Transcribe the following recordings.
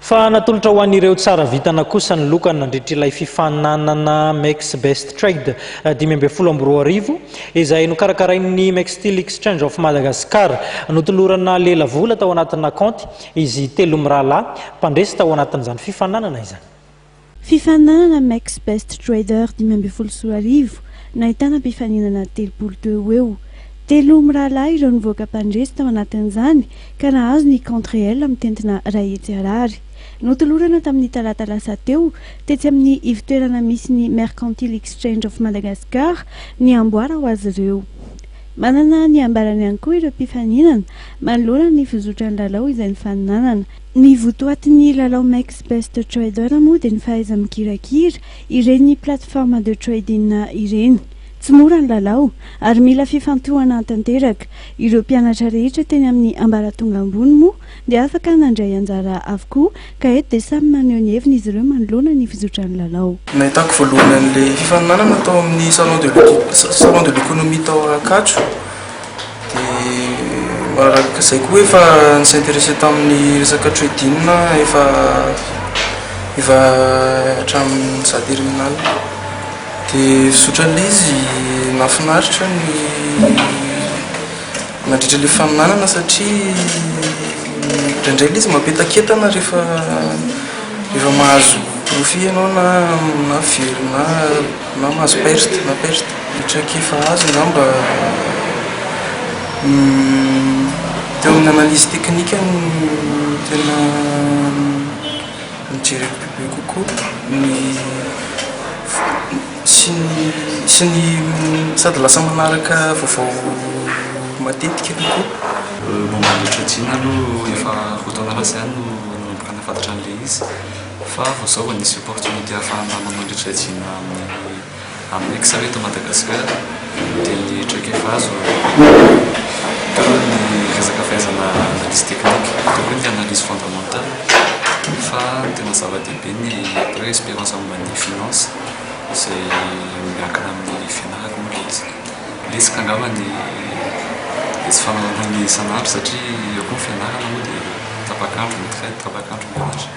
Fa natolotra ho an'ireo tsara vintana kosa ny loka nandritra ilay fifaninanana Mex Best Trade dimy ambin'ny folo amby roa arivo, izay nokarakarain'ny Mextil Exchange of Madagascar. Notolorana lela vola tao anatina kaonty izy telo mirahalahy mpandresy tao anatin'izany fifaninanana izany. Fifaninanana Max Best Trader dimy ambin'ny folo sy roa arivo, nahitana mpifaninana telopolo teo ho eo. Telo mirahalahy ireo nivoaka mpandresy tao anatin'izany ka nahazo ny compte réel mitentina iray hetsy Harary. Notolorana tamin'ny talata lasa teo, tetsy amin'ny ivotoerana misy ny Mercantile Exchange of Madagascar, ny amboara ho azy ireo. Manana ny ambarany ihany koa ireo mpifaninana manoloana ny fizotran'ny lalao izay nifaninanana. Ny votoatin'ny lalao Makes Best Trader moa dia ny fahaiza-mikirakira ireny plateformes de trading ireny. Tsy mora ny lalao ary mila fifantohana tanteraka. Ireo mpianatra rehetra teny amin'ny ambaratonga ambony moa dia afaka nandray anjara avokoa ka eto dia samy maneho ny heviny izy ireo manoloana ny fizotran'ny lalao. Nahitako voalohany an'ilay fifaninanana tao amin'ny Salon de l'Economie tao Ankatso. Dia araka izay koa efa ni-s'interesser tamin'ny resaka trading efa efa hatramin'ny za terminale. Dia fizotra an'ilay izy nahafinaritra ny nandritra ilay faminanana satria indraindray ilay izy mampientakentana rehefa rehefa mahazo profit ianao na na very na. Na mahazo perte na perte ny traikefa azo angamba teo amin'ny analyse teknika no tena nojereko bebe kokoa ny sy ny sy ny sady lasa manaraka vaovao matetika kokoa. Momba an'ilay treading aloha efa roa taona lasa ihany no nanomboka nahafantatra an'ilay izy. Fa vao zao vao nisy opportunité ahafahana manao ny trajiana amin'ny Excel eto Madagascar dia ny traikefazo teo ny resaka fahaizana analyse technique teo koa ny analyse fondamentale fa ny tena zava-dehibe ny atao hoe expérience momba ny finance izay miankina amin'ny fianarako moa ilay izy. Letsika angamba ny ny tsy fanaovana an'io isan'andro satria eo koa ny fianarana moa dia tapak'andro ny train tapak'andro mianatra.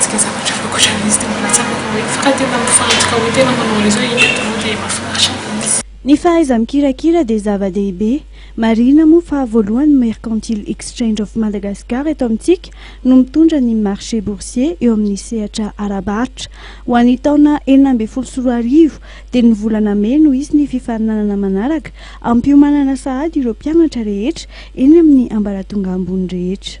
Tsy dia zavatra hafa ankoatran'izy dia mbola tsapako hoe fa raha tena mifantoka hoe tena manao réseau i Micro dia mahafinaritra ilay izy. Ny fahaiza-mikirakira dia zava-dehibe. Marihina moa fa voalohany ny Mercantile Exchange of Madagascar eto amintsika no mitondra ny marché boursier eo amin'ny sehatra ara-barotra. Ho an'ny taona enina ambin'ny folo sy roa arivo dia ny volana mey no hisy ny fifaninanana manaraka hampiomanana sahady ireo mpianatra rehetra eny amin'ny ambaratonga ambony rehetra.